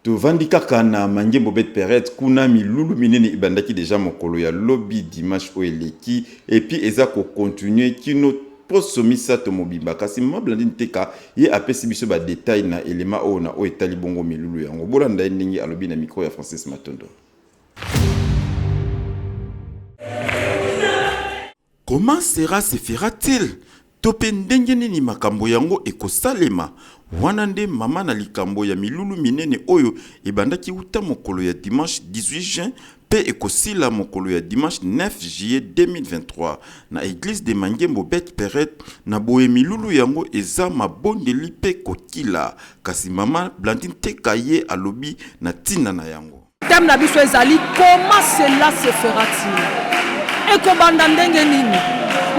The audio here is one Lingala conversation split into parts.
Tovandi kaka na Mangembo Bet Peret kuna milulu minene ebandaki dejà mokolo ya lobi dimanche oyo eleki et puis eza ko continuer kino poso misato mobimba kasi Maman Blandine Teka ye apesi biso ba details na element oyo na oyo etali bongo milulu yango. Bolanda ye ndenge alobi na micro ya Francis Matondo. Comment cera se fera-t-il? to pe ndenge nini makambo yango ekosalema? Wana nde mama na likambo ya milulu minene oyo ebandaki uta mokolo ya dimanche 18 juin pe ekosila mokolo ya dimanche 9 juillet 2023 na eglise de Mangembo Beth Pered na boye milulu yango eza mabondeli pe kokila kasi mama Blandine Teka ye alobi na tina na yango. Thème na biso ezali comment cela se fera-t-il? Ekobanda ndenge nini?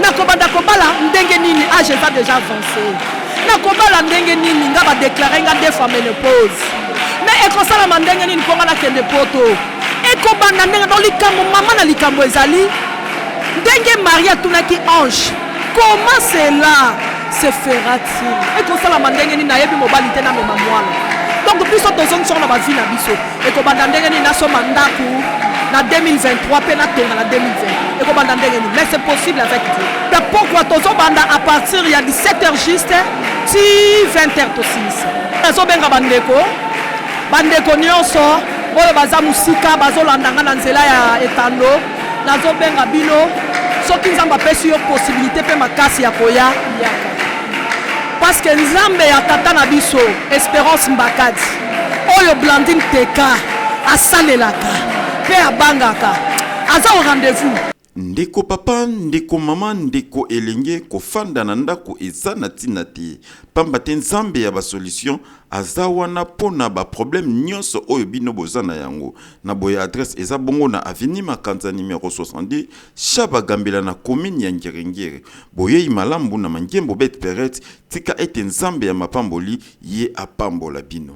Nakobanda kobala ndenge nini? Age ah, eza deja avance. Nakobala ndenge nini? Nga ba déclarer nga deux fois menopause. Mais ekosalama ndenge nini mpo nga nakende poto? Ekobanda ndenge donc likambo mama na likambo ezali ndenge Marie atunaki ange Comment cela se fera-t-il? Ekosalama ndenge nini? Nayebi mobali te, namema mwana. Donc biso tozongisa yango na ba vie na biso. Ekobanda ndenge nini? Nasomba ndako na 2023 mpe natonga na 2020. Ekobanda ndenge nini? Mais c'est possible avec Dieu. Mais pourquoi tozobanda à partir ya 17h juste ti 20h tosilisa? Nazobenga bandeko, bandeko nyonso oyo baza mosika bazolanda nga na nzela ya etando nazobenga bino soki nzambe apesi yo posibilité mpe makasi ya koya yaka paske nzambe ya tata na biso esperance mbakadi oyo blandine teka asalelaka mpe abangaka aza au rendez-vous ndeko papa ndeko mama ndeko elenge kofanda na ndako eza na ntina te mpamba te nzambe ya basolution aza wana mpo na baproblème nyonso oyo bino boza na yango Na boye adresse eza bongo na avenue Makanza numero 62 Shaba Gambela na commune ya Ngiri Ngiri. Boyeyi malamu na Mangembo Bet Peret, tika ete Nzambe ya mapamboli ye apambola bino.